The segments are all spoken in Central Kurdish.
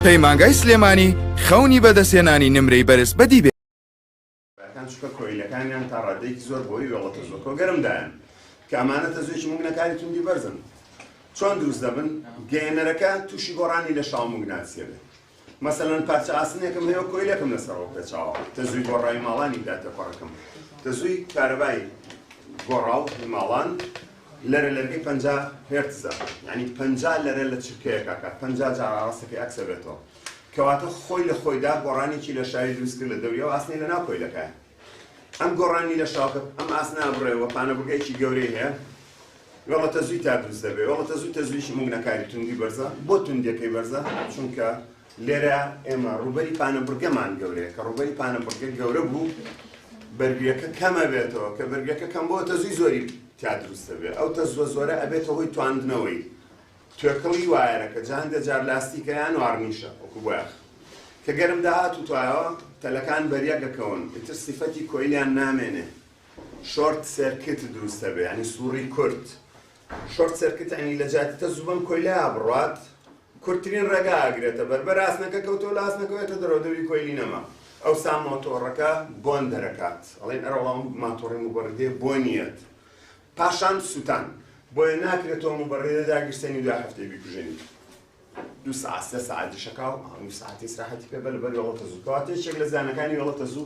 پەیمانگای سلێمانی خەونی بەدەستێنانی نمرەی بەرز بەدی بێ ئەکان چکە کۆیلەکانیان تا ڕادێکی زۆر بۆی وێڵەتە زۆر کۆگەرمدایان کە ئەمانە تەزوێکی مونەکاری توندی بەرزن چۆن دروست دەبن گەێنەرەکە تووشی گۆڕانی لە شاومگناسیە بێت مەسەەن پارچە ئاسنێکم هەیە کۆیلەکەم لەسەرەوە پێچاوە تەزوی گۆڕای ماڵانی داتە پەڕەکەم تەزوی کارەبای گۆڕاو ماڵان لەرە لەرگەی پەنجا هێرتزە یانی پەنجا لەرە لە چرکەیەک ئەکات پەنجا جار ئاڕاستەکەی ئەکسەبێتەوە کەواتە خۆی لە خۆیدا گۆڕانێکی لە شاوی دروست کرد لە دەوری ئەو ئاسنەی لە ناو کۆیلەکەیە ئەم گۆڕانی لە شاوکە ئەم ئاسنا بڕێوە پانەبگەیەکی گەورەی هەیە وەڵە تەزوی تا دروست دەبێت وەڵە تەزوی تەزویشی مونگنەکاری توندی بەرزە بۆ توندەکەی بەرزە چونکە لێرە ئێمە ڕوبەری پانە بڕگەمان گەورەیە کە ڕوبەری پانە بڕگە گەورە بوو بەرگەکە کەمە بێتەوە کە بەرگەکە کەم بۆ تەزوی زۆری تیا دروست دەبێت، ئەو تەزووە زۆرە ئەبێتە هۆی تواندنەوەی توێکڵی وایەرەکە، جا هەندێک جار لاستیکە یان وارنیشە وەکو بۆیاخ کە گەرم داهاتوتایەوە تەلەکان بەریەک ئەکەون ئیتر سیفەتی کۆیلیان نامێنێ شۆرت سێرکت دروست ئەبێ یانی سوڕی کورت شۆرت سێرکت یانی لەجیاتی تەزوو بەم کۆیلە بڕوات کورتترین ڕێگا ئەگرێتە بەر، بەر ئاسنەکە کەوتەوە لە ئاسنەکەوە ئێتە دەرەوە دەوری کۆیلی نەما ئەوسا مۆتۆڕەکە بۆن دەرەکات ئەڵێن ئەرە وەڵا ماتۆڕی موبەڕیدێ بۆنیەت پاشان سوتان بۆیە ناکرێتەوە موبەڕیدە داگیرسێنی دوای هەفتەی بیکوژێنی دوو سعات سە سعاتی شەکاو ئەو سعاتی سراحەتی پێ بەل بەر وەڵە تەزوو کەواتە یەکێک لە زانەکانی وەڵە تەزوو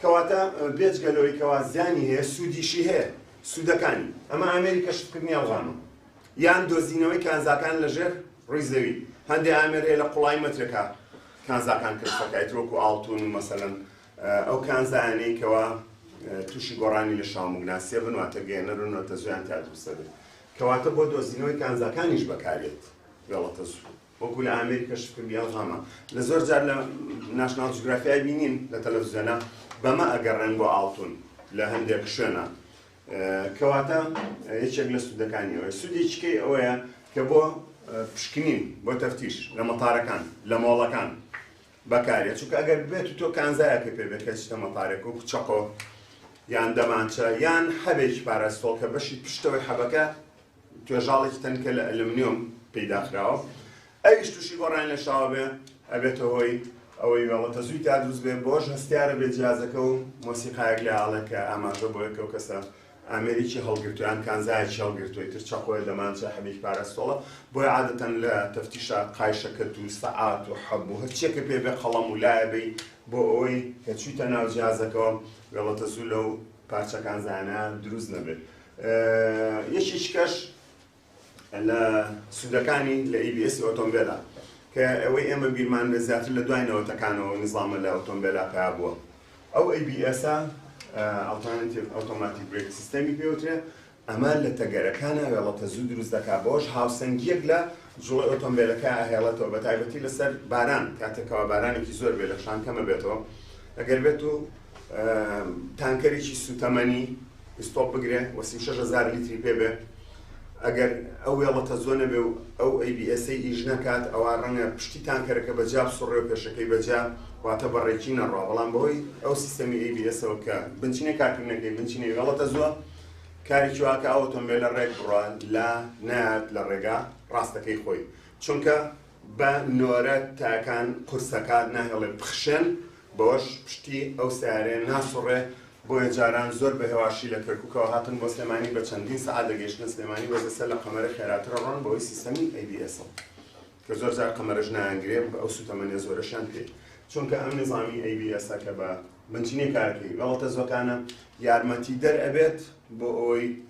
کەواتە بێجگە لەوەی کەوا زیانی هەیە سوودیشی هەیە، سوودەکانی، ئەمە ئامێری کەشفکردنی ئەڵغامە یان دۆزینەوەی کانزاکان لە ژێر ڕووی زەوی، هەندێ ئامێر هەیە لە قوڵایی مەترێکا کانزاکان کەشف ئەکایت وەکو ئاڵتوون و مەسەلەن ئەو کانزایانەی کەوا تووشی گۆڕانی لەشاومگناسیە بن واتە گەیەنەرن و تەزوویان تیا دروست ئەبێت کەواتە بۆ دۆزینەوەی کانزاکانیش بەکاریەت گەڵەتەزوو. وەکو لە ئامێری کەشفکردنی ئەڵغاما لە زۆر جار لە ناشناڵ جوگرافیای بینین لە تەلەڤزیۆنا بەمە ئەگەڕێن بۆ ئاڵتون لە هەندێک شوێنە کەواتە یەکێک لە سوودەکانی ئەوەیە سوودێکیکەی ئەوەیە کە بۆ پشکنین بۆ تەفتیش لە مەتارەکان لە مۆڵەکان بەکارێت چونکە ئەگەر بێت و تۆ کانزایەکە پێ بێت کە چتە مەتارێک و چەقۆ یان دەمانچە یان حەبێکی پاراستۆڵ کە بەشی پشتەوەی حەبەکە توێژاڵێکی تەنکە لە ئەلومنیۆم پەیدا خراوە ئەویش تووشی گۆڕان لە شاوە بێ ئەبێتە هۆی ئەوەی وێڵەتە زووی تا دروست بێ بۆش هەستیارە بێ جیازەکە و مۆسیقایەک لە ئاڵێک کە ئاماژە بۆ یەکەو کەسە ئامێریکی هەڵگرتویان کانزایەکی هەڵگرتوی تر چەقۆیە دەمانچە حەبیک پارەستۆڵە بۆی عادەتەن لە تەفتیشە قایشەکە دوو سەعات و حەب و هەرچیەکە پێ بێ قەڵەم و لایەبی بۆ ئەوەی کە چویتە ناو جیازەکەەوە وێڵەتە زوو لەو پارچەکان زانە دروست نەبێت یەکێکی کەش لە سوودەکانی لە ABS ئۆتۆمبێلا کە ئەوەی ئێمە بیرمان لە زیاتر لە دوای نەوەتەکانەوە نظامە لە ئۆتۆمبێلا پیا بووە ئەو ABS ئەڵتانتیڤ ئۆتۆماتیک برێک سیستەمی پێوترێ ئەمە لە تەگەرەکانە وێڵەتە زوو دروست دەکا بۆش هاوسەنگیەک لە جوڵە ئۆتۆمبیلەکە هێڵێتەوە بە تایبەتی لەسەر باران کاتێکەوە بارانێکی زۆر بێ لە شان کەمە بێتەوە ئەگەر بێت و تانکەرێکی سوتەمەنی ئیستۆپ بگرێ و سی و شەش هەزار لیتری پێ بێ ئەگەر ئەو وێڵە تەزۆ نەبێ و ئەو ABS ئیش نەکات ئەوا ڕەنگە پشتی تانکەرەکە بە جا بسوڕێ و پێشەکەی بە جا واتە بە ڕێکی نەڕوا بەڵام بەهۆی ئەو سیستەمی ABS ەوە کە بنچینە کارکردنەکەی بنچینەی وێڵە تەزووە کارێکی وا کە ئەو ئۆتۆمبێلە ڕێک بڕا لا نەیات لە ڕێگا ڕاستەکەی خۆی چونکە بە نۆرە تاکان قورسەکات ناهێڵێ بخشێن، بەوەش پشتی ئەو سەیارەیە ناسوڕێ، بۆیە جاران زۆر بە هێواشی لە کەرکوکەوە هاتن بۆ سلێمانی بە چەندین سەعات دەگەیشتنە سلێمانی بەس ئێستا لە قەمەرە خێراترە ڕۆن بەوەی سیستەمی ئەی بی ئێسە کە زۆر جار قەمەرەش نایانگرێ بە ئەو سوتەمەنیە زۆرەشیان پێ چونکە ئەم نظامی ئەی بی ئێسە کە بە بنچینەی کارەکەی غەڵەتە زۆکانە یارمەتیدەر ئەبێت بۆ ئەوەی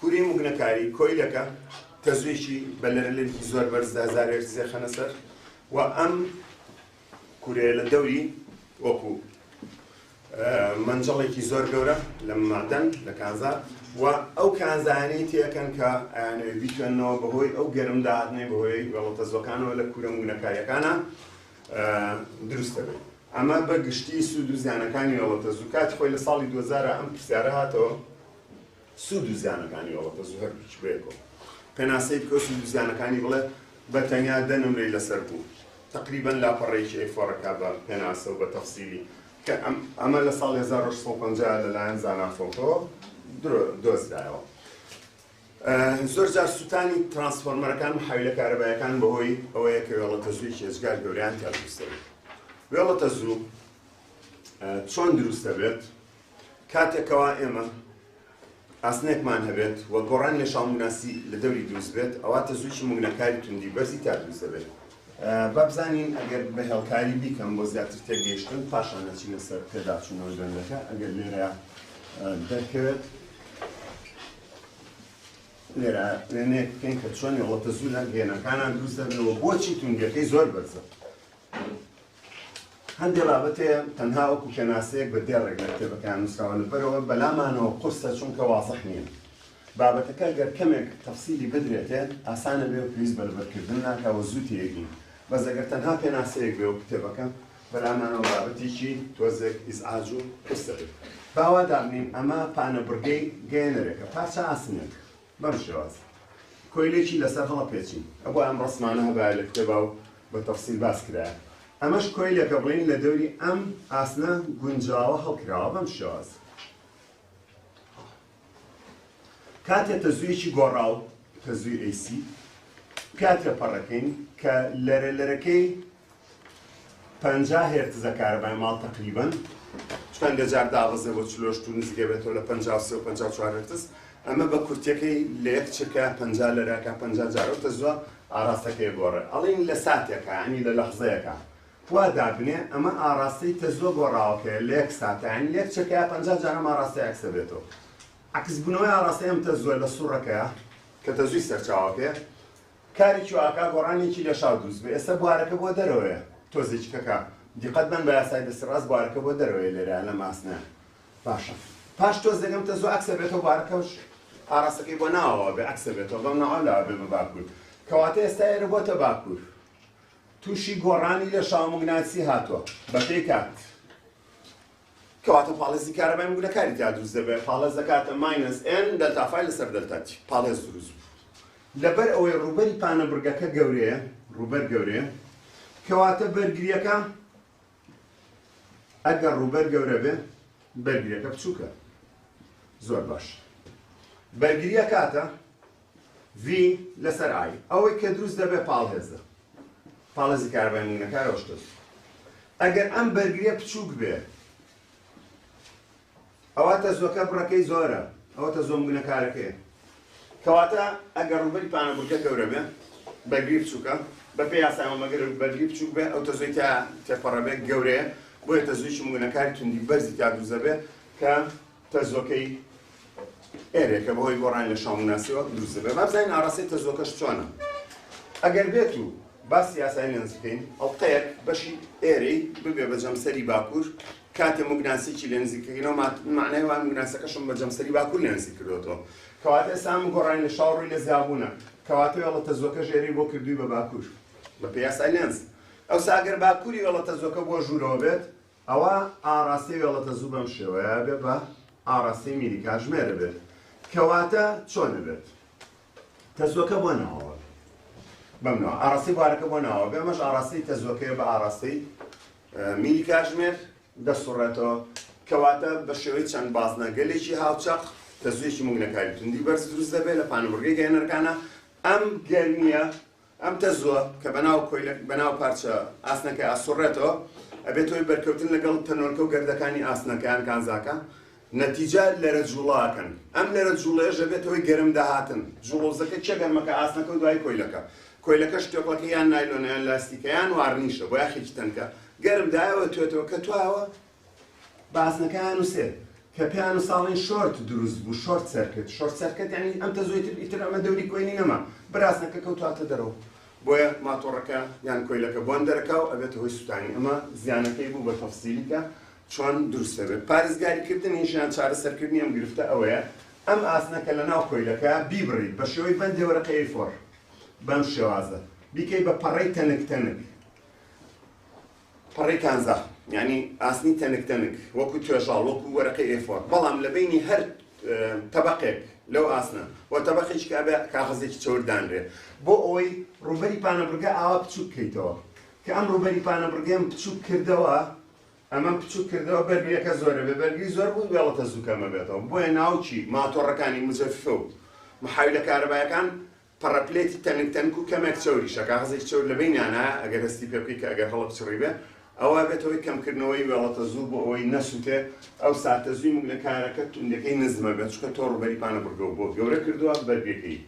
کوری موگنەکاری کۆیلەکە تەزویکی بە لەرلنکی زۆر بەرزدا زارێر زێخەنە سەر و ئەم کورەیە لە دەوری وەکو مەنجەڵێکی زۆر گەورە لە مادەن لە کانزا و ئەو کانزانەی تێکەن کە ئەیانەوێ بیتوێنەوە بەهۆی ئەو گەرم داهاتنەی بەهۆی وەڵتە زۆکانەوە لە کورە موگنەکاریەکانە دروست دەبێت ئەمە بە گشتی سوود و زیانەکانی وەڵتە زوو کات خۆی لە ساڵی 2000 ئەم پرسیارە هاتەوە سوود و زیانەکانی ئەوە کە زوهەر هیچ بەیەکەوە پێناسەی بکە و سوود و زیانەکانی بڵێ بە تەنیا دە نمرەی لەسەر بوو تەقریبەن لاپەڕەیەکی ئەی فۆڕەکە بە پێناسە و بە تەفسیلی کە ئەمە لە ساڵی 1950 لەلایەن زانا فۆکەوە دۆزرایەوە زۆر جار سووتانی ترانسفۆرمەرەکان و حاویلە کارەبایەکان بەهۆی ئەوەیە کە وێڵە تەزووی هێزگار گەوریان تیاویستەوە وێڵە تەزوو چۆن دروستە بێت کاتێک کەوا ئێمە ئاسنێکمان هەبێت و گۆڕانی لە شاڵموگناسی لە دەوری دروست بێت ئەوا تەزوویی موگنەکاری توندی بەرزی تا دروست دەبێت. با بزانین ئەگەر بە هێڵکاری بیکەم بۆ زیاتر تێگەیشتن پاشان نەچینە سەر پێداچوونەوەی بەندەکە ئەگەر لێرە دەرکەوێت لێرە وێنەیەک بکەین کە چۆن هێڵە تەزوو لە گەێنەکانان دروست دەبێت و بۆچی توندیەکەی زۆر بەرزە هەندێ بابەت هەیە تەنها وەکو پێناسەیەک بە دێڕێک لە کتێبەکەیان نووسراوە لەبەرەوە بەلامانەوە قورسە چونکە وازح نییە بابەتەکە گەر کەمێک تەفسیلی بدرێتێ ئاسانە بێ و پێویست بە لەبەرکردن ناکا و زوو تێگین بەس ئەگەر تەنها پێناسەیەک بێ و کتێبەکە بەلامانەوە بابەتێکی تۆزێک ئیزعاج و قورسە بێت باوا دابنین ئەمە پانەبڕگەی گەیەنەرێکە پارچە ئاسنێک بەم شێوازە کۆیلەیی لەسەر هەڵەپێچین ئەبوا ئەم ڕەسمانە هەبایە لە کتێبا و بە تەفسیل باس کرایە. ئەمەش کۆیلەکە بڵێین لە دەوری ئەم ئاسنە گونجاوە هەڵکراوە بەم شێوازە. کاتێ تەزوویەکی گۆڕاو تەزووی ئەیسی پیا تێپەڕەکەین کە لەرە لەرەکەی پەنجا هێرتزە کارەبای ماڵ تەقریبەن چەندە جار دابەزێ بۆ چلۆش تو نزیکە بێتەوە لە پەنجا و سێ و پەنجا و چوار هێرتز ئەمە بە کورتیەکەی لە یەک چرکە پەنجا لەراکە پەنجا جار ئەو تەزوە ئاراستەکەی گۆڕێ ئەڵین لە ساتێکە ینی لە لەحزەیەکە وا دابنێ ئەمە ئاراستەی تەزوە گۆڕاوەکەیە لە یەک ساتە ینی لە یەک چرکە پەنجا جار ئەم ئاراستە عەکسە بێتەوە عەکسبوونەوەی ئاراستەی ئەم تەزوە لە سوڕەکەیە کە تەزوی سەرچاوەکەیە کارێکی وا ئەکا گۆڕانێکی لە شاو دروست بێ ئێستا بوارەکە بۆ دەرەوەیە تۆزێکی کەکە دیقەت بەن بە یاسای دەستی ڕاست بوارەکە بۆ دەرەوەیە لێرە لەم ئاسنە باشە پاش تۆز دەگەم تە زۆ ئەکسە بێتەوە بوارەکەش ئاراستەکەی بۆ ناوەوە بێ ئەکسە بێتەوە بەڵام ناوە لاوە بێ بە باکوور کەواتە ئێستا ئێرە بۆتە باکوور تووشی گۆڕانی لە شاومگناسی هاتووە بەپێی کات کەواتە پاڵێزی کارەبای موگ لە کاری تیا دروست دەبێت، پاڵێز دەکاتە ماینەس ئێن دەلتا فای لەسەر دەلتا تی، پاڵێز دروست بوو. لەبەر ئەوەی ڕووبەری پانەبڕگەکە گەورەیە، ڕووبەر گەورەیە، کەواتە بەرگرییەکە ئەگەر ڕووبەر گەورە بێ بەرگریەکە بچووکە زۆر باش بەرگریە کاتە ڤی لەسەر ئای ئەوەی کە دروست دەبێت پاڵهێزە پاڵێزی کارەبای مونەکارەوە شتە دوو ئەگەر ئەم بەرگریە بچووک بێ ئەوە تەزوەکە بڕەکەی زۆرە ئەوە تە زۆم گونەکارەکەی کەواتە ئەگەر ڕوبەری پانەبورگە گەورە بێ بەرگری بچووکە بە پێ یاساەوە مەگەر بەرگری بچووک بێ ئەو تەزۆی تا تێپەڕەبێت گەورەیە بۆیە تەزویی مونەکاری توندی بەرزی تا دووزە بێت کە تەزۆکەی ئێرێ کە بەهۆی گۆڕانی لە شاومناسیەوە دروست دەبێت با بزانین ئاڕاستەی تەزۆکەش چۆنە ئەگەر بێت و باس یاسای لێنز بکەین ئەڵقەیەک بەشی ئێرەی ببێ بە جەمسەری باکوور کاتێ مگناسێکی لێنزی کردنەوە معنای وان مگناسەکەشم بە جەمسەری باکوور لێنزی کردوەوە کەواتە ئێسام گۆڕانی لە شاوڕی لە زیابوونە کەواتە وڵە تەزۆکە ژێری بۆ کردووی بە باکوور بە پێ یاسای لێنز ئەو ساگەر باکووری وڵە تەزۆکە بۆ ژوورەوە بێت ئەوا ئاڕاستەی وێڵەتەزوو بەم شێوەیە ئەبێ بە ئاڕاستەی میری کاژمێر ئەبێت. کەواتە چۆن ئەبێت؟ تەزووەکە بۆ ناوەوە بێ. بەم ناوە ئاڕاستەی بوارەکە بۆ ناوە بێ ئەمەش ئاڕاستەی تەزووەکەیە بە ئاڕاستەی میری کاژمێر دەسوڕێتەوە. کەواتە بە شێوەی چەند بازنەگەلێکی هاوچەق تەزوویەکی موگنەکاری توندی بەرز دروست دەبێت لە پانوبڕگەی گەرمەکانە ئەم گەرمیە ئەم تەزووە کە بەناو کۆیلە بەناو پارچە ئاسنەکەی ئاسوڕێتەوە ئەبێت هۆی بەرکەوتن لەگەڵ تەنۆلکە و گەردەکانی ئاسنەکە یان کانزاکە نەتیجە لەرە جووڵە ئەکەن ئەم لەرە جووڵەیەش ئەبێت هۆی گەرم داهاتن جووڵە و زەکە چیە گەرمەکە ئاسنەکە و دوای کۆیلەکە کۆیلەکەش تۆپەکە یان نایلۆنە یان لاستیکە یان وارنیشە بۆ یاخێکی تەنکە گەرم دایەوە توێتەوە کە توایەوە باسنەکەیان نوسێت کە پێیان ساڵین شۆرت دروست بوو شۆرت سەرکرد شۆرت سەرکرد یعنی ئەم تەزوێتر ئیتر ئەمە دەوری کۆینی نەما براسنەکە کەوتواتە دەرەوە بۆیە ماتۆڕەکە یان کۆیلەکە بۆن دەرەکە و ئەبێتە هۆی سووتانی ئەمە زیانەکەی بوو بە تەفسیلیکە چۆن دروست دەبێت پارێزگاریکردنیش یان چارەسەرکردنی ئەم گرفتە ئەوەیە ئەم ئاسنەکە لە ناو کۆیلەکە بیبڕیت بە شێوەی بەندێ وەرەقەیەی فۆر بەم شێوازە بیکەی بە پەڕەی تەنک تەنک پەڕەی کانزا یانی ئاسنی تەنک تەنک وەکو توێژاڵ وەکو وەرەقەی ئێ فۆر بەڵام لە بینی هەر تەبقێک لەو ئاسنە و تەبقێکی کابێ کاغەزێکی چەور دانرێ بۆ ئەوەی ڕوبەری پانەبرگە ئاوا بچوک بکەیتەوە کە ئەم ڕوبەری پانەبرگەم بچوک کردەوە ئەمە بچوک کردەوە بەرگریەکە زۆرە بێ بەرگری زۆر بوو وێڵەتە زووکەمە بێتەوە بۆیە ناوچی ماتۆڕەکانی مزەفە و محاوی لە کارەبایەکان پەڕە پلێتی تەنک تەنک و کەمێک چەوریشە، کاغەزێکی چەور لەبەینیانا ئەگەر هەستی پێ بکەی کە ئەگەر هەڵە بچڕی بێ ئەوا بێتە هۆی کەمکردنەوەی وێڵەتە زوو بۆ ئەوەی نەسوتێ ئەو ساتە زووی مگنەکارەکە توندەکەی نزمە بێت چونکە تۆ ڕووبەری پانەبڕگەو بۆ گەورە کردوە بەرگەکەی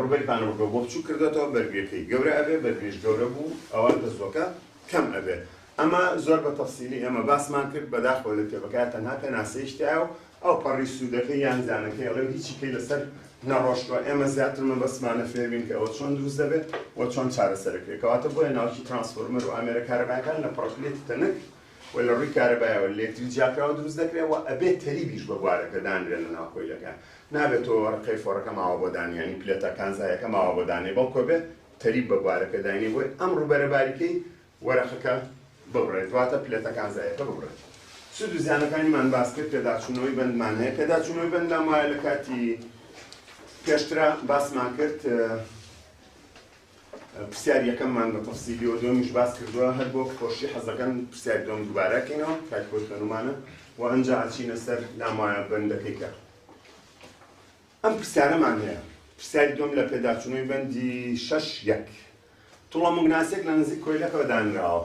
ڕووبەری پانەبڕگەو بۆ بچووک کردۆتەوە بەرگەکەی گەورە ئەبێ بەرگەش گەورە بوو ئەوا تەزوەکە کەم ئەبێ ئەمە زۆر بە تەفسیلی ئێمە باسمان کرد، بەداخەوە لە کتێبەکەیا تەنها پێناسەیش تیایە و ئەو پەڕی سوودەکەی یان زیانەکەی ئەڵێ و هیچی کەی لەسەر نەڕۆشتووە، ئێمە زیاتر مەبەستمانە فێر بین کە ئەوە چۆن دروست دەبێت و چۆن چارەسەرەکرێت، کەواتە بۆیە ناوکی ترانسفۆرمەر و ئامێرە کارەبایەکان لە پڕەکلێتی تەنک و لە ڕووی کارەبایەوە لێکتری جیاکراوە دروست دەکرێت و ئەبێت تەریبیش بە بوارەکە دانرێت لە ناو کۆیلەکەیان، نابێت تۆ ڕقەی فۆڕەکە ماوە بۆ دانێ یانی پلێتە کانزایەکە ماوە بۆ دانێ بەڵکو ئەبێت تەریب بە بوارەکە داینێ، بۆیە ئەم ڕووبەرە باریکەی وەرەقەکە ببڕێت دواتر پلێتەکان زایەکە ببڕێت. سوود و زیانەکانیمان باس کرد پێداچوونەوەی بەندمان هەیە پێداچوونەوەی بەندمان وایە لە کاتی پێشترا باسمان کرد پرسیار یەکەممان بە تەفسیلی و دومیش باس کردووە هەر بۆ خۆشی حەزەکەن پرسیار دۆم دووبارەکەینەوە کاک بۆ خوێنمانە و ئەنجا ئەچینە سەر لامایە بەندەکەی کە ئەم پرسیارەمان هەیە پرسیاری دۆم لە پێداچوونەوەی بەندی شەش یەک توڕە موگناسیەک لە نزیک کۆیلەکەوە دانراوە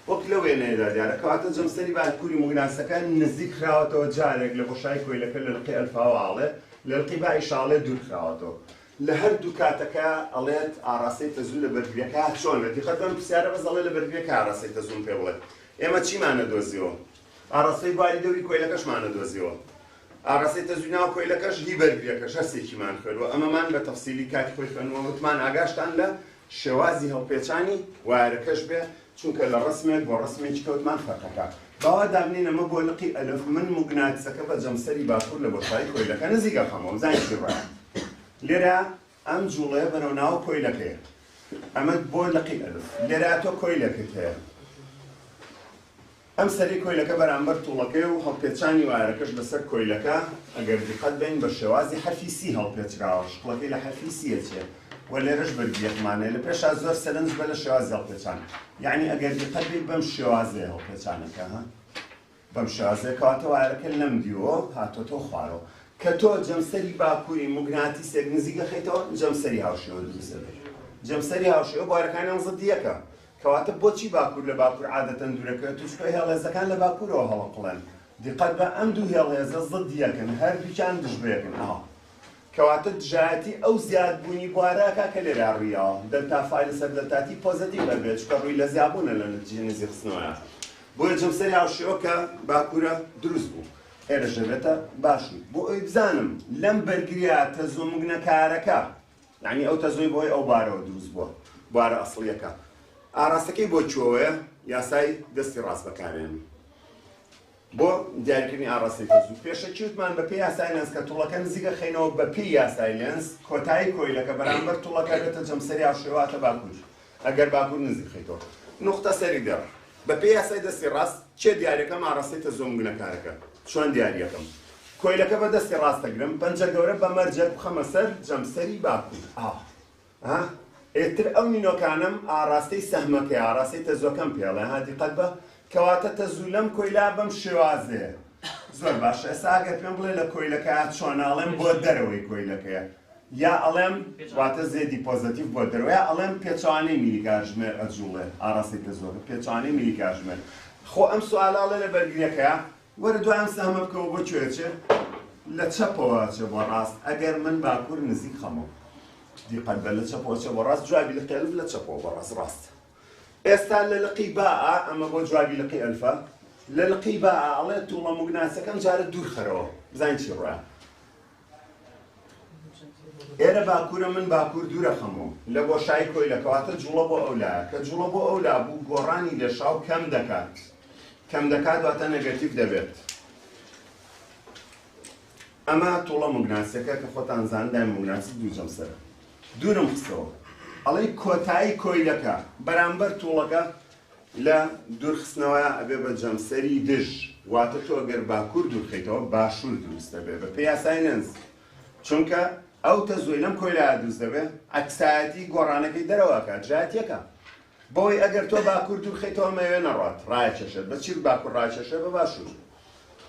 وەک لە وێنەیەدا دیارە کەواتە جەمسەری باکووری موگناسەکە نزیک خراوەتەوە جارێک لە بۆشایی کۆیلەکە لە لقی ئەلفاوە ئاڵێ لە لقی بای شاڵێ دوور خراوەتەوە لە هەردوو کاتەکە ئەڵێت ئاراستەی تەزوو لە بەرگریەکە چۆنە دیقەت بەم پرسیارە بەس ئەڵێ لە بەرگریەکە ئاراستەی تەزوون پێ بڵێت ئێمە چیمانە دۆزیەوە ئاراستەی باری دەوری کۆیلەکەشمانە دۆزیەوە ئاڕاستەی تەزووی ناو کۆیلەکەش هی بەرگرییەکەش هەر سێکیمان خوێند و ئەمەمان بە تەفسیلی کاتی خۆی خوێند و وتمان ئاگاشتان لە شێوازی هەڵپێچانی وایەرەکەش بێ چونکە لە ڕەسمێک بۆ ڕەسمێکی کەوتمان فەرقەکە باوا دابنێین ئەمە بۆ لقی ئەلف من موگناتسەکە بە جەمسەری باکوور لە بۆشایی کۆیلەکە نزیک ئەخەمەوە زانیشی ڕایە لێرە ئەم جوڵەیە بەرەو ناو کۆیلەکەیە. ئەمە بۆ لقی ئەلف. لێرە تۆ کۆیلەکت هەیە. ئەم سەری کۆیلەکە بەرامبەر توڵەکەیە و هەڵپێچانی وایەرەکەش لەسەر کۆیلەکە، ئەگەر دیقەت بەین بە شێوازی حەرفی سی هەڵپێچراوە، شکڵەکەی لە حەرفی سی ئەچێ و لێرەش بەرگی یەکمان هەیە. لە پێشا زۆر سەرنج بە لە شێوازی هەڵپێچان. یەعنی ئەگەر دیقەت بەی بەم شێوازەیە هەڵپێچانەکە. بەم شێوازە کەواتەوایەرەکە لەم دیوەوە هاتۆتەوە خوارەوە کە تۆ جەمسەری باکووری موگناتیسێک نزیک دەخەیتەوە جەمسەری هاوشێوە دروست دەبێت جەمسەری هاوشێوە بوارەکانیان زدیەکە کەواتە بۆچی باکوور لە باکوور عادەتەن دوورەکەوێت توچکە هێڵێزەکان لە باکوورەوە هەڵەقڵێن دیقەت بە ئەم دوو هێڵێزە زدیەکن هەردووچان دژبەیەکن ئاوا کەواتە دژایەتی ئەو زیادبوونی بوارەکا کە لێرە ڕوویاوە، دەلتا فای لەسەر دەلتا تی پۆزەتیڤ ئەبێت، چونکە ڕووی لە زیابوونە لە نەتیجەی نزی خستنەوەیا. بۆیە جەمسەری هاوشێوە کە باکوورە دروست بوو. ئێرەش دەبێتە باشوور. بۆ ئەوەی بزانم لەم بەرگرییە تەزووە مگنەکارەکە، یانی ئەو تەزووەی بەهۆی ئەو بوارەوە دروست بووە، بوارە ئەسڵییەکە، ئاراستەکەی بۆ کوێوەیە، یاسای دەستی ڕاست بەکارێنم. بۆ دیاریکردنی ئاڕاستەی تەزوو پێشەکی وتمان بەپێی یاسای لێنز کە توڵەکە نزیکە خەینەوە بەپێی یاسای لێنز کۆتایی کۆیلەکە بەرامبەر توڵەکە بێتە جەمسەری هاوشێوە واتە باکوور ئەگەر باکوور نزیک خەیتەوە نوختە سەری دێڕ بەپێی یاسای دەستی ڕاست چێ دیاریەکەم ئاڕاستەی تەزوو مگنەکارەکە چۆن دیاریەکەم کۆیلەکە بە دەستی ڕاست دەگرم پەنجە گەورە بە مەرجەک بخەمە سەر جەمسەری باکوور ئاوا ها ئێتر ئەو نینۆکانەم ئاڕاستەی سەهمەکەی ئاڕاستەی تەزوەکەم پێڵێ ها دیقەت بە کەواتە تەزوو لەم کۆیلا بەم شێوازەیە زۆر باشە ئێستا ئەگەر پێم بڵێ لە کۆیلەکەیا چۆن ئاڵێم بۆ دەرەوەی کۆیلەکەیە یا ئەڵێم واتە زێدی پۆزەتیف بۆ دەرەوەی ئەڵێم پێچوانەی میلی کاژمێر ئەجوڵێ ئاڕاستەی تەزوەکە پێچوانەی میلی کاژمێر خۆ ئەم سوالاڵێ لە بەرگریەکەیا وەرە دوای ئەم سەهمە بکەوە بۆ کوێ ئەچێ؟ لە چەپەوە ئەچێ بۆ ڕاست ئەگەر من باکوور نزیک خەمەوە دیقەت بە لە چەپەوە ئەچێ بۆ ڕاست جوابی لقی ئەلف لە چەپەوە بۆ ڕاست ڕاستە ئێستا لە لقی باء ئەمە بۆ جوابی لقی ئەلفە لە لقی باء ئەڵێ تووڵە موگناسەکەم جارە دوورخەرەوە بزانین چی ڕۆیان ئێرە باکوورە من باکوور دوورەخەمەوە لە بۆشایی کۆیلە کەواتە جوڵە بۆ ئەو لایە کە جوڵە بۆ ئەو لا بوو گۆڕانی لێشاو کەم دەکات کەم دەکات واتە نەگەتیڤ دەبێت ئەمە توڵە مگناسیەکە کە خۆتان زاندای مگناسی دوو جەمسەرە دوورم خستەوە ئەڵەی کۆتایی کۆیلەکە بەرامبەر توڵەکە لە دوور خستنەوەیا ئەبێ بە جەمسەری دژ، واتە تۆ گەر باکوور دوور بخەیتەوە باشوور دروست دەبێ بە پێی یاسای لێنز، چونکە ئەو تەزووەی لەم کۆیلایە دروست دەبێ عەکسایەتی گۆڕانەکەی دەرەوە ئەکات جیاتیەکە بەوەی ئەگەر تۆ باکوور دوور بخەیتەوە مەوێ نەڕوات ڕایەکێشێت بە چی باکوور ڕاکێشێ بە باشوور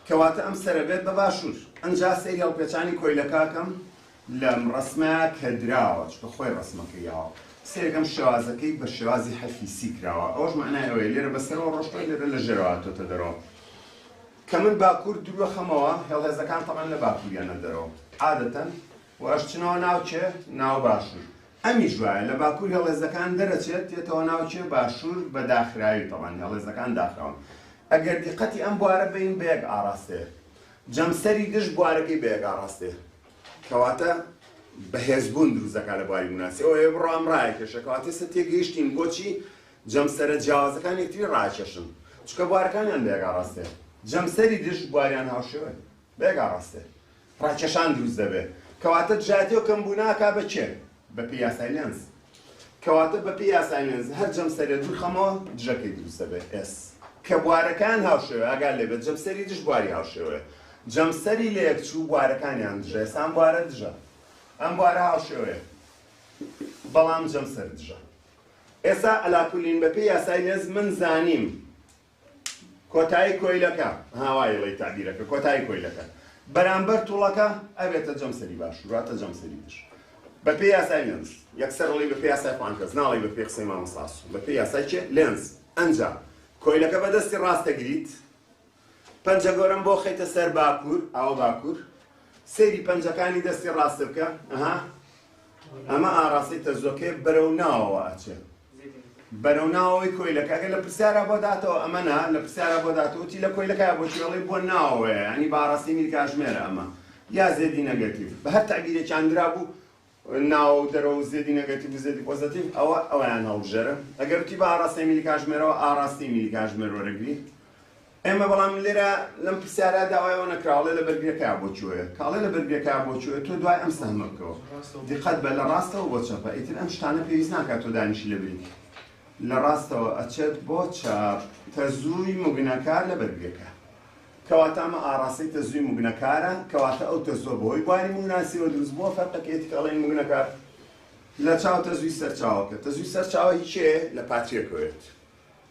کەواتە ئەم سەرە بێت بە باشوور ئەنجا سەیری هەڵپێچانی کۆیلەکە ئەکەم لەم ڕەسمە کە دراوە، چونکە خۆی ڕەسمەکە یاوە، سەیرەکەم شێوازەکەی بە شێوازی حەرفی سی کراوە، ئەوەش مەعنای ئەوەیە لێرە بە سەرەوە ڕۆشتووە، لێرە لە ژێرەوە هاتۆتە دەرەوە. کە من باکوور دروەخەمەوە، هێڵێزەکان تەبعەن لە باکووریانە دەرەوە عادەتەن و ئەشچنەوە ناو کێ؟ ناو باشوور. ئەمیش وایە، لە باکوور هێڵێزەکان دەرەچێت دێتەوە ناو کێ؟ باشوور بە داخراوی، تەبعەن هێڵێزەکان داخراون. ئەگەر دیقەتی ئەم بوارە بەین بە یەک ئاڕاستەیە. جەمسەری دژ بوارەکەی بە یەک ئاڕاستەیە. کەواتە بەهێز بوون دروست دەکات لە بواری موناسی ئەو ئێ بڕۆ ئەم ڕایە کێشە کەواتە سە تێگەیشتین بۆچی جەمسەرە جیاوازەکان یەکتری ڕاکێشن چکە بوارەکانیان بێگا ڕاستێ جەمسەری دژ بواریان هاوشێوە بێگا ڕاستێ ڕاکێشان دروست دەبێت کەواتە جاتێ و کەم بووناکا بە کێ بەپێی یاسای لێنز. کەواتە بەپێی یاسای لێنز هەر جەمسەرێ دوور خەمەوە دژەکەی دروست دەبێت S کە بوارەکان هاوشێوەیە ئاگات لێ بێت جەمسەری دژ بواری هاوشێوەیە جەمسەری لەیەکچوو بوارەکانیان دژە ئێستا ئەم بوارە دژە ئەم بوارە هاوشێوەیە بەڵام جەمسەر دژە ئێستا ئەلاکولین بەپێی یاسای لێنز من زانیم کۆتایی کۆیلەکە، ها وا ئیڵێی تەعبیرەکە، کۆتایی کۆیلەکە، بەرامبەر توڵەکە، ئەبێتە جەمسەری باشوور، واتە جەمسەری دژ. بە پێی یاسای لێنز، یەکسەر ئەڵێی بە پێی یاسای پانکەس، ناڵێی بە پێی قسەی مامۆستا ئاسۆ، بە پێی یاسای کێ؟ لێنز. ئەنجا، کۆیلەکە بە دەستی ڕاست دەگریت، پەنجە گەورەم بۆ خەیتە سەر باکوور، ئەوە باکوور، سەیری پەنجەکانی دەستی ڕاست بکە، ئەها، ئەمە ئاڕاستەی تەزووەکەیە، بەرەو ناوەوە ئەچێ. بەرەو ناوەوەی کۆیلەکە گەر لە پرسیارا بۆ داتەوە ئەمە نا لە پرسیارا بۆ داتەوە وتی لە کۆیلەکە بۆ چێڵی بۆ ناوەوەیە یعنی بە ئاڕاستی میر کاژمێرە ئەمە یا زێدی نەگەتیڤ بە هەر تەعبیرێکیان درابوو ناوە و دەرەوە و زێدی نەگەتیڤ و زێدی پۆزەتیڤ ئەوە ئەویان هەڵبژێرە ئەگەر وتی بە ئاڕاستەی میری کاژمێرەوە ئاڕاستی میری کاژمێر وەرەگری ئێمە بەڵام لێرە لەم پرسیارە داوای ئەوە نەکرا ئەڵێ لە بەرگرەکەیا بۆ چۆیە کە ئەڵێ لە بەرگرەکەیا بۆ چۆیە تۆ دوای ئەم سەهمە بکەوە دیقەت بە لە ڕاستەوە بۆ چەپە ئیتر ئەم شتانە پێویست ناکات تۆ دانیشی لە بری لە ڕاستەوە ئەچێت بۆ چاپ تەزووی مگنەکار لە بەرگرەکە کەواتە ئەمە ئاراستەی تەزووی مگنەکارە کەواتە ئەو تەزووە بەوەی بواری مگناسیەوە دروست بووە فەرقەکێتی کە ئەڵێن مگنەکار لە چاو تەزووی سەرچاوەکە تەزووی سەرچاوە هیچێ لە پاتریەکەوێت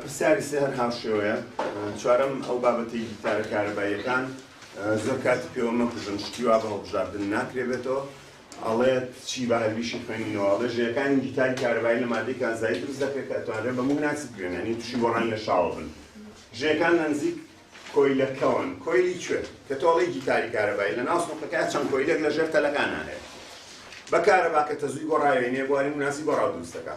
پرسیاری سێ هەر هاوشێوەیە چوارەم ئەو بابەتی گیتارە کارەباییەکان زۆر کاتی پێوە مەکوژن شتی وا بە هەڵبژاردن ناکرێ بێتەوە ئەڵێت چی بە هەربیشی خوێنینەوە ئەڵێ ژەکانی گیتاری کارەبایی لە مادەی کانزایی دروست دەکرێت کە ئەتوانرێت بە مغناسی بگرێن یعنی تووشی گۆڕان لە شاوە بن ژەکان لە نزیک کۆیلەکەون کۆیلی کوێ کە تۆڵی گیتاری کارەبایی لە ناو سنوقەکە چەند کۆیلێک لە ژێر تەلەکان هەیە بە کارەبا کە تەزوی گۆڕاوێنێ بواری مناسی گۆڕاو دروستەکە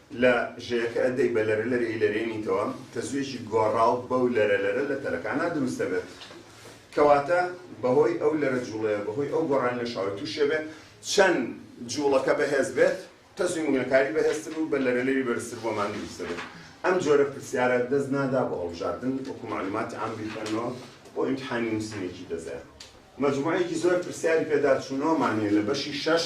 لە ژێیەکە ئەدەی بە لەرە لەرە ئیلەرێنیتەوە، تەزوویەکی گۆڕاو بەو لەرە لەرە لە تەلەکانا دروست دەبێت. کەواتە بەهۆی ئەو لەرە جووڵەیە، بەهۆی ئەو گۆڕانی لە شاوەی تووشێ بێ، چەند جووڵەکە بەهێز بێت، تەزووی مگنەکاری بەهێزتر و بە لەرە لەری بەرزتر بۆمان دروست دەبێت. ئەم جۆرە پرسیارە دەست نادا بۆ هەڵبژاردن، وەکوو مەعلووماتی عام بیخوێننەوە بۆ ئیمتحانی نووسینێکی تەزێ. مەجمووعەیەکی زۆر پرسیاری پێداچوونەوەمان هەیە لە بەشی شەش،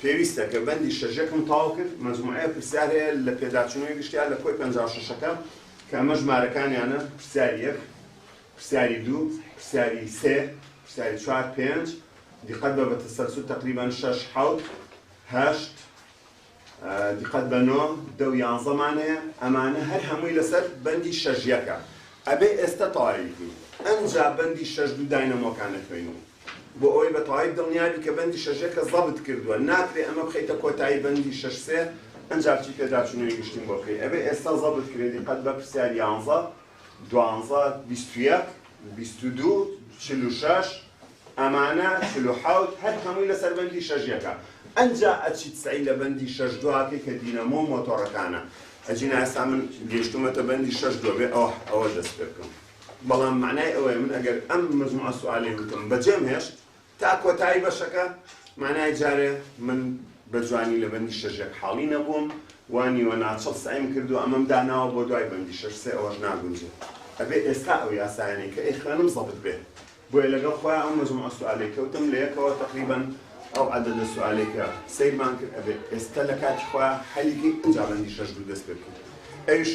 پێویستە کە بەندی شەژەکم تەواو کرد مەجموعەیە پرسیار هەیە لە پێداچوونەوەی گشتیار لە کۆی پەنجا و شەشەکە کە ئەمە ژمارەکانیانە پرسیاری یەک پرسیاری دوو پرسیاری سێ پرسیاری چوار پێنج دیقەت بە بە تەسەلسول تەقریبەن شەش حەوت هەشت دیقەت بە نۆ دە و یانزەمان هەیە ئەمانە هەر هەمووی لەسەر بەندی شەژیەکە ئەبێ ئێستا تەواوی بکەین ئەنجا بەندی شەش دوو داینەمۆکان ئەخوێنین بۆ ئەوەی بە تەواوی دڵنیا بی کە بەندی شەشەکە زەبت کردووە ناکرێ ئەمە بخەیتە کۆتایی بەندی شەش سێ ئەنجا بچی پێداچوونەوەی گشتیم بۆ بکەی ئەبێ ئێستا زەبت کرێ دیقەت بە پرسیار یانزە دوانزە بیست و یەک بیست و دوو چل و شەش ئەمانە چل و حەوت هەر هەمووی لەسەر بەندی شەشەکە ئەنجا ئەچیت سەعی لە بەندی شەش دواکەی کە دینەمۆ و مۆتۆڕەکانە ئەجینا ئێستا من گەیشتومەتە بەندی شەش دووە بێ ئەوە ئەوە دەست پێ بکەم بەڵام مەعنای ئەوەیە من ئەگەر ئەم مجموعە سوالەی وتم بەجێم هێشت تا کۆتایی بەشەکە مەعنای جارێ من بە جوانی لە بەندی شەش یەک حاڵی نەبووم و نیوە ناچڵ سەعیم کرد و ئەمەم داناوە بۆ دوای بەندی شەش سێ ئەوەش ناگونجێ ئەبێ ئێستا ئەو یاسایانەی کە ئەیخوێنم زەبت بێ بۆیە لەگەڵ خۆیان ئەو مەجموعە سوالەی کەوتم لەیەکەوە تەقریبەن ئەو عەدەدە سوالەی کە سەیرمان کرد ئەبێ ئێستا لە کاتی خۆیان حەلی کەین ئەجا بەندی شەش دوو دەست پێبکەین ئەویش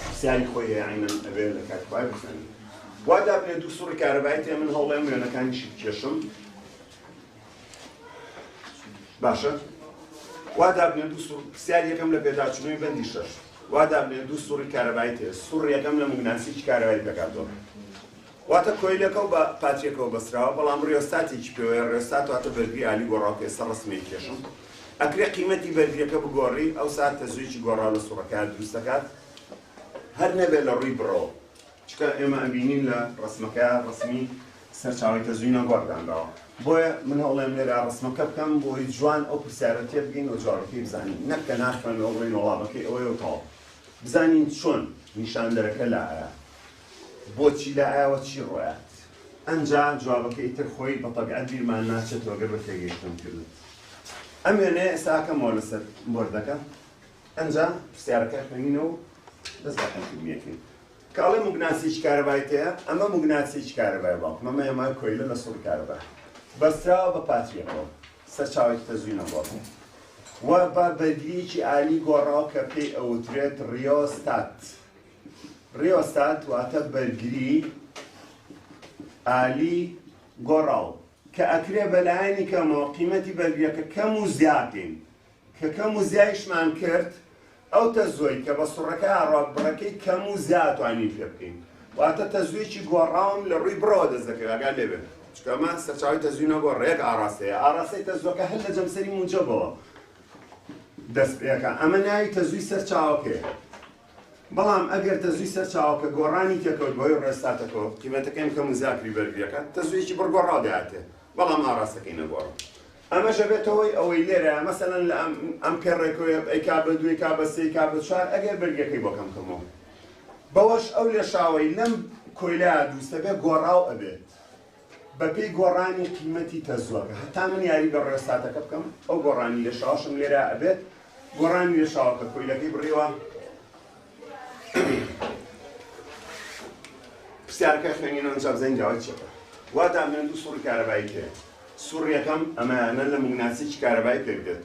پرسیاری خۆی هەیە عینەن ئەبێ لە کاتی خۆیان بزانین وا دابنێ دوو سوڕی کارەبایی تێ من هەوڵێم وێنەکانیشی بکێشم باشە وا دابنێ دوو سوڕ پرسیار یەکەم لە پێداچوونەوەی بەندی شەش وا دابنێ دوو سوڕی کارەبایی تێ سوڕ یەکەم لە موگناسیی کارەبای پێکهاتووە واتە کۆیلەکە و بە پاتیەکەوە بەستراوە بەڵام ڕیۆستاتێکی پێوەیە ڕێۆستات واتە بەرگری ئالی گۆڕاو کە ئێستا ڕەسمیە کێشم ئەکرێ قیمەتی بەرگریەکە بگۆڕی ئەوسا تەزوویەکی گۆڕاو لە سوڕەکەیا دروست دەکات هەر نەبێت لە ڕووی بڕەوە چونکە ئێمە ئەبینین لە ڕەسمەکەیا ڕەسمی سەرچاوەی تەزووی ناگۆڕ دانراوە بۆیە من هەوڵێم لێرا ڕەسمەکە بکەم بۆی جوان ئەو پرسیارە تێ بگەین و جوابەکەی بزانین نەک کە ناخوێنەوە بڵێین وەڵامەکەی ئەوەیە و تەواو بزانین چۆن نیشاندەرەکە لایە بۆچی لایەوە چی ڕۆیات؟ ئەنجا جوابەکەی ئیتر خۆی بە تەبیعەت بیرمان ناچێتەوە گەر بە تێگەیشتنم کردت. ئەم وێنەیە ئێستا ئەکەمەوە لەسەر بۆردەکە. ئەنجا پرسیارەکە خوێنینەوە و دەست بە حەلکردنی ئەکەین. کە ئەڵێ موگناتیسێکی کارەبای تێیە، ئەمە موگناتیسێکی کارەبایە باوکم. ئەمە هێمای کۆیلە لە سوڕی کارەبا. بەستراوە بە پاتریەکەوە. سەرچاوەیەکی تەزووینە بۆ ئەکەین. و بە بەرگرییەکی ئالی گۆڕاوە کە پێی ئەوترێت ڕیۆستات. ریۆستات واتە بەرگری ئالی گۆڕاو کە ئەکرێ بە لایەنی کەمەوە قیمەتی بەرگریەکە کەم و زیاکەین کە کەم و زیایشمان کرد ئەو تەزۆی کە بە سوڕەکە ئاڕاک بڕەکەی کەم و زیاتوانین پێ بکەین واتە تەزوێکی گۆڕاوم لە ڕووی بڕەوە دەست دەکەوێت ئەگەر لێبێت چکەمە سەرچاوی تەزوی نەگۆ ڕێک ئاراستەیە ئاراستەی تەزۆکە هەر لە جەمسەری موجەبەوە دەست پێەکە ئەمە ناوی تەزوی سەرچاوەکەیە بەڵام ئەگەر تەزووی سەرچاوە کە گۆڕانی تێکەوت بەهۆی ڕێستاتەکەوە، قیمەتەکەی کەم و زاکری بەرگریەکە تەزوویەکی بڕ گۆڕاو دەهاتێ بەڵام ئاڕاستەکەی نەگۆڕاو. ئەمەش ئەبێتە هۆی ئەوەی لێرە مەسەلەن لە ئەم پێڕێکەوە ئەیکا بە دوو ئەیکا بە سێ ئەیکا بە چوار ئەگەر بەرگریەکەی بۆ کەم کەمەوە بەوەش ئەو لێشاوەی لەم کۆیلایە دروستەبێ گۆڕاو ئەبێ. بەپێی گۆڕانی قیمەتی تەزووەکە هەتا من یاری بە ڕێستاتەکە بکەم ئەو گۆڕانی لێشاوەشم لێرە ئەبێت گۆڕانی لێشاوەکە کۆیلەکەی بڕێوە پرسیارەکە خوێنینەوە ئینجا بزانین جوابی چیە وا دامێن دوو سوڕی کارەبایی پێ سوڕیەکەم ئەمەیانە لە موگناتیسێکی کارەبایی پێک دێت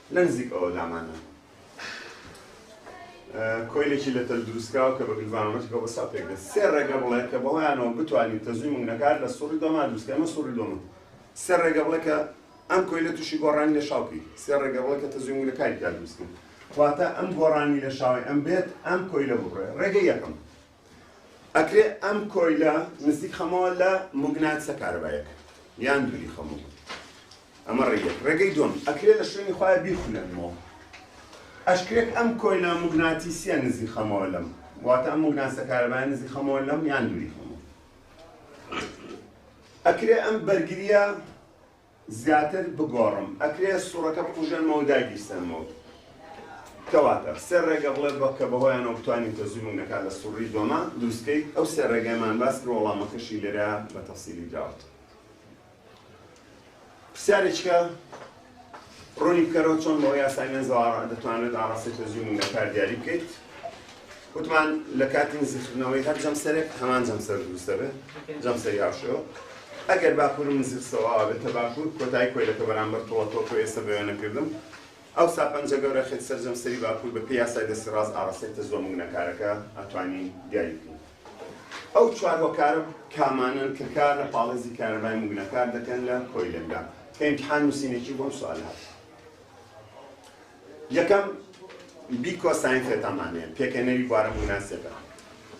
لە نزیک ئەوە لامانە کۆیلێکی لە تەل دروستکراوە کە بە گلڤانۆمەترەوە بە سا پێک دێت سێ ڕێگە بڵێ کە بەڵیانەوە بتوانین تەزووی مونگنەکار لە سوڕی دۆما دروستکە ئەمە سوڕی دۆمە سێ ڕێگە بڵێ کە ئەم کۆیلە تووشی گۆڕانی لە شاو بکەیت سێ ڕێگە بڵێ کە تەزووی مونگنەکاری تیا دروستکەن واتە ئەم گۆڕانی لە شاوی ئەم بێت ئەم کۆیلە ببڕێ ڕێگە یەکەم ئەکرێ ئەم کۆیلە نزیک خەمەوە لە موگناتسە کارەبایەک یان دووری خەمەوە ئەمە ڕێگەی ڕێگەی دوم ئەکرێ لە شوێنی خۆیان بیخولێنمەوە ئەشکرێک ئەم کۆیلە موگناتیسیە نزیک خەمەوە لەم واتە ئەم موگناتسە کارەبایە نزیک خەمەوە لەم یان دووری خەمەوە ئەکرێ ئەم بەرگریە زیاتر بگۆڕم ئەکرێ سوڕەکە بکوژێنمەوەو دایبیستێنمەوە کەواتە سێ ڕێگە بڵێ بە کە بەهۆیانەوە بتوانین تەزووی مونەکان لە سوڕی دۆمە دروستکەیت ئەو سێ ڕێگایمان باس کرد وەڵامەکەشی لێرە بە تەفسیلی دراوەت پرسیارێکە ڕوونی بکەرەوە چۆن بەوە یاسای مێنزەوە دەتوانێت ئاڕاستەی تەزووی مونەکار دیاری بکەیت وتمان لە کاتی نزیکردنەوەی هەر جەمسەرێک هەمان جەمسەر دروست دەبێت جەمسەری هاوشێوە ئەگەر باکوور و نزیک سەواوە بێتە باکوور کۆتایی کۆیلەکە بەرامبەر تۆڵەتۆک و ئێستا بەوێ نەکردم ئەو سا پەنجە گەورە خێت سەر جەمسەری باکوور بە پێی یاسای دەستی ڕاست ئاڕاستەی تەزوە مگنەکارەکە ئەتوانی دیاری بکەین ئەو چوار هۆکارە کامانن کە کار لە پاڵێزی کارەبای مگنەکار دەکەن لە کۆیلەکە کە ئیمتحان نووسینێکی بۆم سوال هات یەکەم، بیکۆ ساینفێتان مان هەیە، پێکهێنەری بوارە مووناسێبە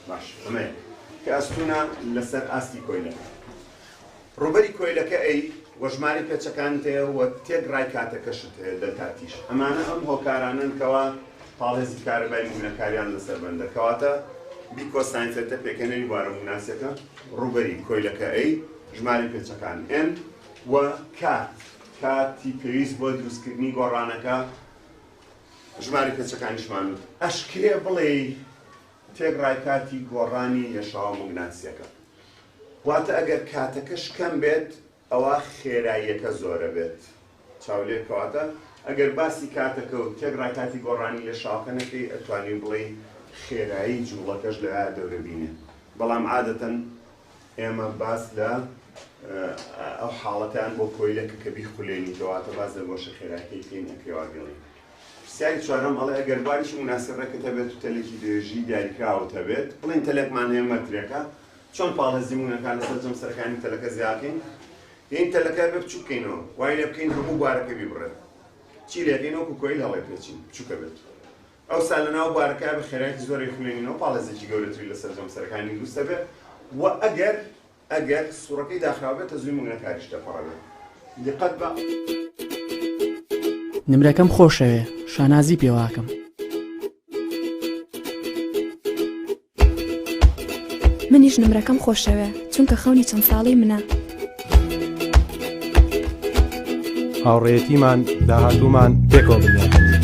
باش ئەمەیە کە ئەستوونە لە سەر ئاستی کۆیلەکە. ڕووبەری کۆیلەکە ئەی و ژمارەی پێچەکانت هەیە و تێک ڕای کاتەکەشت هەیە دەلتا تیش. ئەمانە ئەم هۆکارانەن کەوا پاڵێزی کارەبای موونەکاریان لە سەر بەندە. کەواتە بیکۆ ساینفێتە پێکهێنەری بوارە مووناسێکە، ڕووبەری کۆیلەکە ئەی، ژمارەی پێچەکان N و K. کاتی پێویست بۆ دروستکردنی گۆڕانەکە ژمارەی پێچەکانیشمان وت. ئەشکرێ بڵێی تێکڕای کاتی گۆڕانی لێشاوە موگناتسیەکە. واتە ئەگەر کاتەکەش کەم بێت ئەوا خێراییەکە زۆرە بێت. چاولێ کەواتە ئەگەر باسی کاتەکە و تێکڕای کاتی گۆڕانی لێشاوەکە نەکەی ئەتوانی بڵێی خێرایی جوڵەکەش لە دەورەبینێ. بەڵام عادەتەن ئێمە باس لە ئەو حاڵەتیان بۆ کۆیلە کە کە بیخولێنی کەواتە باز لە گۆشە خێراکەی کەین لە پێواگەڵی پرسیاری چوارم ئەڵێ ئەگەر بواریشی مناسبەکەت هەبێت و تەلێکی درێژی دیاریکراوت هەبێت بڵین تەلێکمان هەیە مەترێکە چۆن پاڵ هەزیمونونەکان لەسەر جەم سەرەکانی تەلەکە زیاکەین یین تەلەکە بێ بچووکەینەوە وای لێ بکەین هەموو بارەکە بیبڕێت چی لێکەین وەکو کۆیل هەڵێ پێچین بچووکە بێت ئەوسا لەناو بارەکەیا بە خێرایەکی زۆر ئەی خولێنینەوە پاڵێزێکی گەورەتری لەسەر جەم سەرەکانی دروست دەبێت و ئەگەر ئەگەر سوڕەکەی داخراو بێت تەزووی موگنەکاریش دەپەڕێت دیقەت بە نمرەکەم خۆشەوێ شانازی پێواکەم. منیش نمرەکەم خۆشەوێ چونکە خەونی چەند ساڵی منە. هاوڕێیەتیمان داهاتوومان پێکەوە بنیات بنێین.